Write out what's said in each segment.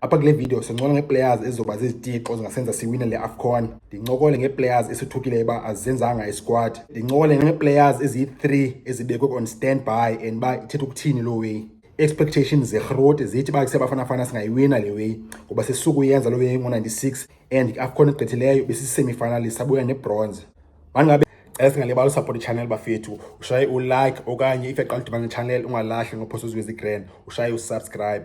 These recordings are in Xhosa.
Apha kule video sincola ngee-players ezizoba zizitixo zingasenza siwine le AFCON. Ndincokole ngee-players esithukileyo uba azenzanga isquad. Ndincokole ngee-players eziyi-3 ezibekwe on standby and uba ithetha ukuthini loo way. expectations zerhoti zithi uba kusebafana fana singayiwina le way ngoba sisuku yenza loo way ngo-96 and i-afcon egqithileyo besisisemifinalist sabuya nebronze mangabe cela singalibali usaphota itshanel bafethu ushaye ulike okanye if yaqala udibana netshanel ungalahli ngophosa uziwezi grand ushaye usubscribe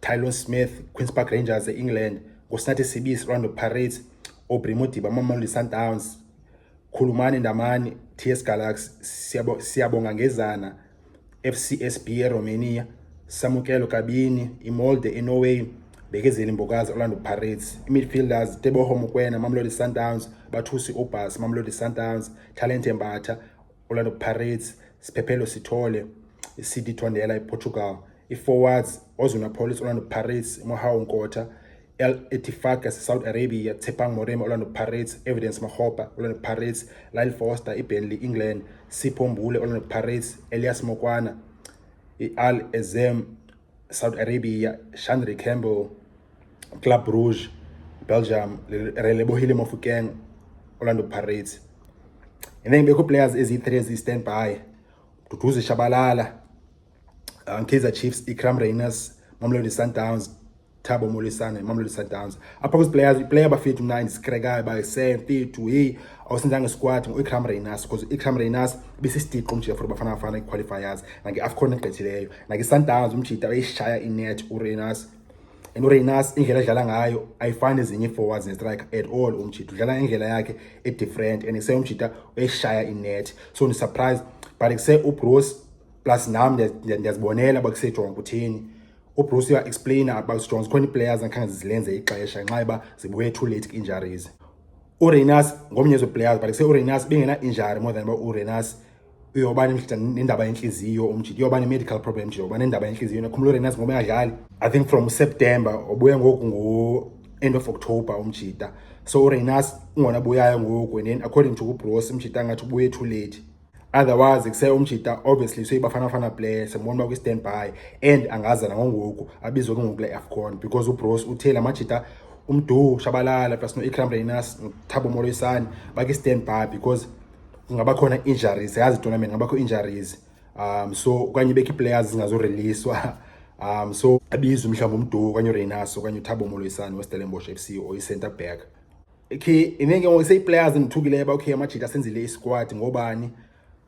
Tylon Smith, Queen's Park Rangers e-England, Nkosinathi Sibisi, Orlando Pirates, Aubrey Modiba, Mamelodi Sundowns, Khulumani Ndamani, TS Galaxy, Siyabo, Siyabonga Ngezana, FCSB eRomania, Samukelo Kabini, Imolde eNorway, Bekezeli Mbokazi, Orlando Pirates, imidfielders Teboho Mokoena, Mamelodi Sundowns, Bathusi Obas, Mamelodi Sundowns, Talente Mbatha, Orlando Pirates, Siphephelo Sithole, iCity Tondela iPortugal, iForwards, Ozuna Police, Orlando Pirates, Mohau Nkota, El Etifaka Saudi Arabia, Tshepang Moremi, Orlando Pirates, Evidence Makgopa, Orlando Pirates, Lyle Foster, iBurnley, England, Sipho Mbule, Orlando Pirates, Elias Mokwana, i-Al Ezem, Saudi Arabia, Shanri Campbell, Club Rouge, Belgium, Relebohile Mofokeng, Orlando Pirates. And then bekho players eziyi-three eziyi-stand by Duduzi Shabalala, um, Kaizer Chiefs, Ikram Rayners, Mamelodi Sundowns, Thabo Molisane, Mamelodi Sundowns. Apha kwiziplayers, iplayer abafethu mna ndisikrekayo uba semfethu heyi awusenzanga isikwati ngu-ikram reynas because u-ikram reynas besisidixo nje for bafana bafana iqualifiers nange-afcon egqithileyo like isundowns umjita wayishaya inet urenas and urenas indlela edlala ngayo ayifani ezinye ii-forwards nestrike at all umjita udlala indlela yakhe edifferent and kuse umjita wayishaya inet so ndisurprise but kuse ubruce plus nam ndiyazibonela uba kusejonga kutheni ubruce uyaexplaina about strong zikhona ii-players angakhange zizilenze ixesha nxa uba zibuye too late injuries urenas ngomnye zeplayers but kuse urenas bengena-injury more than uba urenas uyoba nendaba yentliziyo umjita uyoba ne-medical problem nje uyoba nendaba yentliziyo yena khumula urenas ngoba engadlali i think from september obuya ngoku ngo-end of october umjita so urenas ungona buyayo ngoku and then according to kubros umjita angathi ubuye too late otherwise kuse umjita obviously soyibafanafana player sembona uba kwi-stand by and angaza nangongoku abizwe ke ngoku le afcon because ubros uthe la majita umdu shabalala plus no-ikram renas nothabo moloyisani baki-stand by because kungaba khona injuries yazi tournament ngabakho injuries um so okanye bekho iplayers zingazoreleaswa um so abizwe mhlawumbi umduku okanye ureynaso okanye uthabo moloyisane westellenbosh f c or i-center back okay inenge ngoku seyiplayers endithukileyo uba okay amajita asenzile isquad ngobani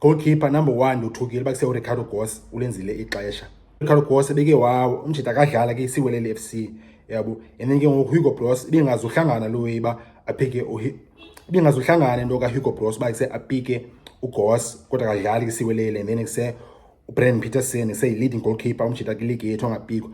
goalkeeper number one ndothukile uba kusewuricardo gos ulenzile ixesha Carlos ebeke wawo umjita akadlala ke isiwelele FC yabo and then ke ngoku Hugo Broos ibingazuhlangana lo way ba aphike ibingazuhlangana into ka Hugo Broos ba kuse apike uGoss kodwa akadlali ke isiwelele and then kuse uBrandon Peterson ese leading goalkeeper umjita ke league yethu angapikwa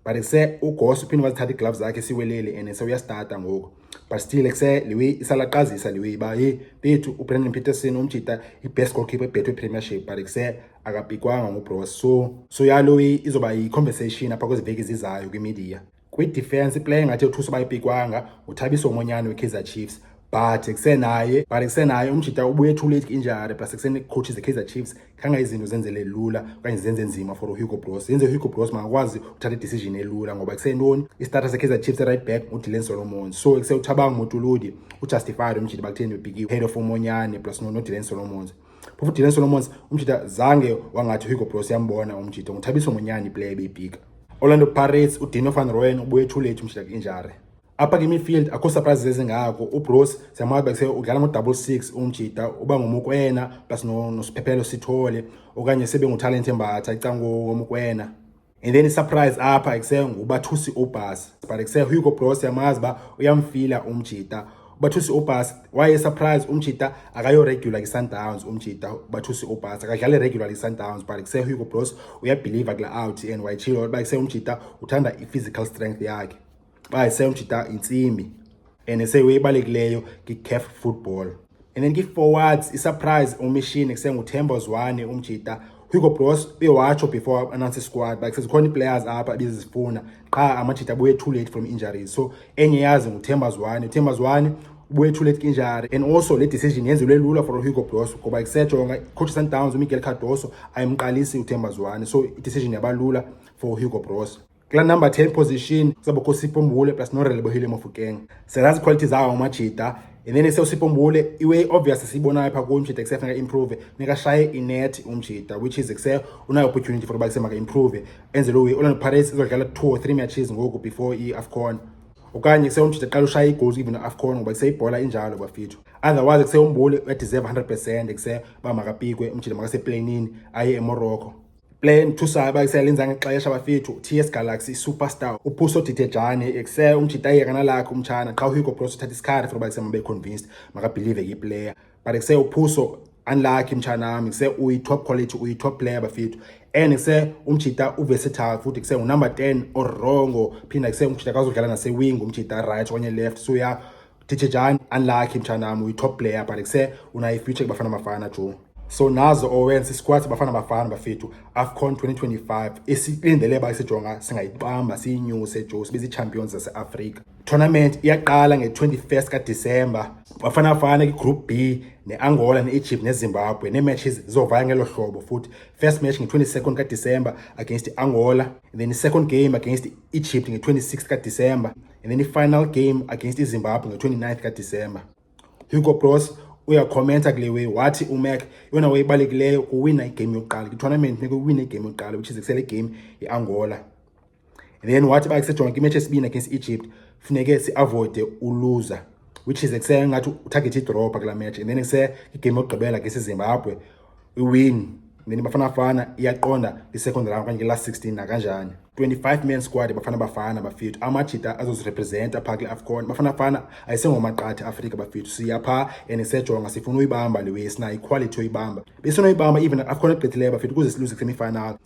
but kuse uGoss uphinde wazithatha igloves zakhe isiwelele and ese uyastarta ngoku but still kuse liwe isalaqazisa liwe ba hey bethu uBrandon Peterson umjita ibest goalkeeper ebhethu ePremiership but kuse akapikwanga ngubros so so yalo izoba yi-conversation apha kwezi veki zizayo kwimedia kwi-defense iplayer engathi othusa uba ipikwanga nguthabiso omonyane we-kaizer chiefs but kusenaye but kusenaye umjita ubuye too late injari plus kusenecoaches ze-kaizer chiefs khanga izinto zenzele lula okanye zenze nzima for uhugo bros yenze uhugo bros makakwazi uthatha idecision elula ngoba kusentoni istarter se-kaizer chiefs right back ngudilen solomon so kusewuthabanga umotuludi ujustified umjita bakutheni bebhiki head of umonyane plus nodilen solomons phofu dylan solomons umjita zange wangathi uhugo bros yambona umjita nguthabiso ngonyana iplayer ebeyibhika orlando pirates udino van royen ubuye ethulethu umjita kwi-injare apha kimifield akho surprises ezingako ubros siyamwazi kuse udlala ngo-double six umjita uba ngomukwena plus nosiphephelo sithole okanye sebe ngutalent embatha icango womukwena and then isurprise apha ekuse ngubathusi ubhasi but ekuse hugo bros yamazi uba uyamfila umjita ubathusi ubhasi waye surprise umjita akayoregular kwi-sundowns umjita ubathusi ubhasi akadlali regular kwi-sundowns but ekuse hugo bros uyabhiliva kula out and wayitshilo uba ekuse umjita uthanda i-physical strength yakhe xa esemjita intsimbi and eseyiwe ibalulekileyo ngicaf football and then ngi-forwards isurprise umishini kusenguthembo zwane umjita hugo bros uyewatsho before announce isquad like sezikhona ii-players apha ebizizifuna qha amajita abuye too late from injuries so enye yazi nguthemba zwane uthemba zwane ubuye too late injury and also le decision yenzelwe lula for uhugo bros ngoba kusejonga coach sundowns umiguel cardoso ayimqalisi uthemba zwane so idecision yabalula for uhugo bros kula number 10 position kuzabakho Sipho Mbule plus Norelebohile Mofokeng selazi quality zawo amajita and then ese uSipho Mbule iwe obvious siyibona lapha ku umjita kusefa ka improve nika shaye inet umjita which is kuse unayo opportunity for bakuse maka improve enze lo Orlando Pirates izodlala 2 or 3 matches ngoku before i AFCON okanye kuse umjita qala ushaya igoals even AFCON ngoba kuse ibhola injalo bafithu otherwise kuse umbule uyadeserve 100% kuse ba makapikwe umjita makase planini aye eMorocco Play nthusa abakisela inza ngexesha bafethu TS Galaxy Superstar uphuso didejane ekse umjitayeka nalakhe umtshana qha uHugo Broos uthatha isikhathi for bakise mabe convinced makabelieve ke player but ekse uphuso unlucky mtshana wami kuse uyi top quality uyi top player bafethu and kuse umjita uversatile futhi kuse unumber 10 orongo phinda kuse umjita kazodlala nase wing umjita right okanye left so ya Teacher Jan, unlucky mthanam, uyi-top player but kuse unayi-future kuBafana Bafana jo. So nazo owenza isikwati Bafana Bafana bafethu AFCON 2025 esilindele ba isijonga singayibamba siyinyuse jo sibe zii-champions zase-Afrika. Tournament iyaqala nge-21st kaDisemba. Bafana Bafana kwi-Group B ne-Angola ne-Egypt neZimbabwe nee-matches zizovaya ngelo hlobo futhi first match nge-22nd kaDisemba against i-Angola then i-second game against i-Egypt nge-26 kaDisemba and then i-final game against izimbabwe nge-29 kadisemba hugo bros uyakhomenta kule way wathi umac yona wayebalulekileyo kuwina igame yokuqala kwitournament funeka uwine igame yokuqala which is kusele game yeangola and then wathi uba kusejonga kwimatch esibini against egypt funeke siavoide uluza which is kusele ngathi utarget idropa kula match and then kuse igame yokugqibela against izimbabwe iwini mina Bafana Bafana iyaqonda i-second round okanye i-last 16 nakanjani 25 man squad Bafana Bafana bafethu amajita azozirepresenta phaa kule afcon Bafana Bafana ayisengomaqatha afrika bafethu siya phaa and sisejonga sifuna uyibamba le way sinayo iquality yoyibamba besinoyibamba even afcon egqithileyo bafethu kuze siluze kwisemifinal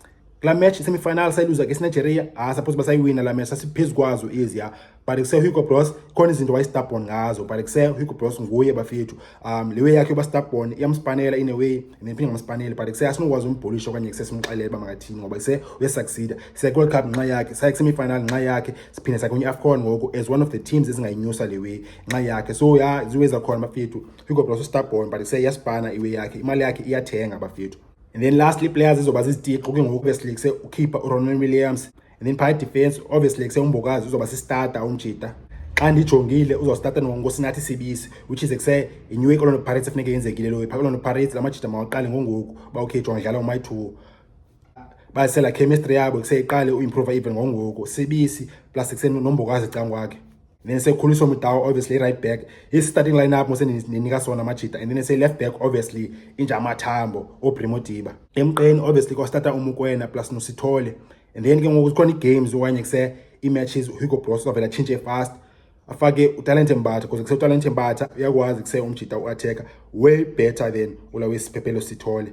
kula match semifinal sayiluza ke sinigeria ah suppose basayiwina la match sasiphezu kwazo eziya but kusehugo bros khona izinto wayestabon ngazo but kusehugo bros nguye bafethu um le way yakhe yoba stabon iyamspanela in a way and then phinde ngamspanele but kuse asinokwazi umbhulisha okanye kuse simxelele uba makathini ngoba kuse uyasucceeda siye-world cup ngenxa yakhe saye kusemifinal ngenxa yakhe siphinde sakhe kwi-afcon ngoku as one of the teams ezingayinyusa le way ngenxa yakhe so ya ziwe zakhona bafethu hugo bros ustabon but kuse iyaspana iway yakhe imali yakhe iyathenga bafethu and then lastly players ezoba zizitiqo ke ngoku besilikise ukhipha uronald williams and then phaya defense obviously kusewumbokazi uzoba sistarter umjita xa ndijongile uzostarta ngosinathi sibisi which is kuse inew ikolonto pirates efuneke yenzekile loyo phaa kolonto pirates la majita mawaqale ngongoku uba okay jonga dlala umayi two basela chemistry yabo kuseyiqale uimprova even ngongoku sibisi plus kusenombokazi cangwakhe then sekhuliswa mudawa obviously right back his starting lineup mose ninika sona amajita and then say left back obviously inja amathambo obrimo diba emqeni obviously kwastarta umukwena plus nosithole and then ke ngoku zikhona ii-games okanye kuse ii-matches uhugo bros avela atshintshe fast afake utalente mbatha kuze kuse utalente mbatha uyakwazi kuse umjita uatheka way better than ula wesiphephelo sithole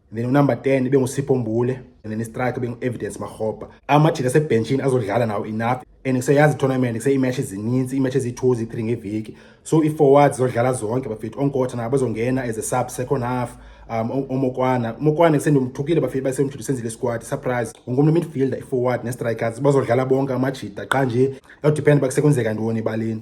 then unumber 10 ibe ngusipho mbule and then istrike ibe ngu-evidence marhobha amajita asebhentshini azodlala nawo enough and kuseyazi itournament kuseyimatch ezininzi iimatch eziyi-two ziyi-three ngeveki so ii-forwards zodlala zonke bafethu onkotha nabo bazongena as a sub second half um omokwana umokwana kusendimthukile bafethu basemjita usenzile isikwadi surprise wonke umntu midfielder i-forward ne-strikers bazodlala bonke amajita qha nje yawudipenda uba kusekwenzeka ntoni ebaleni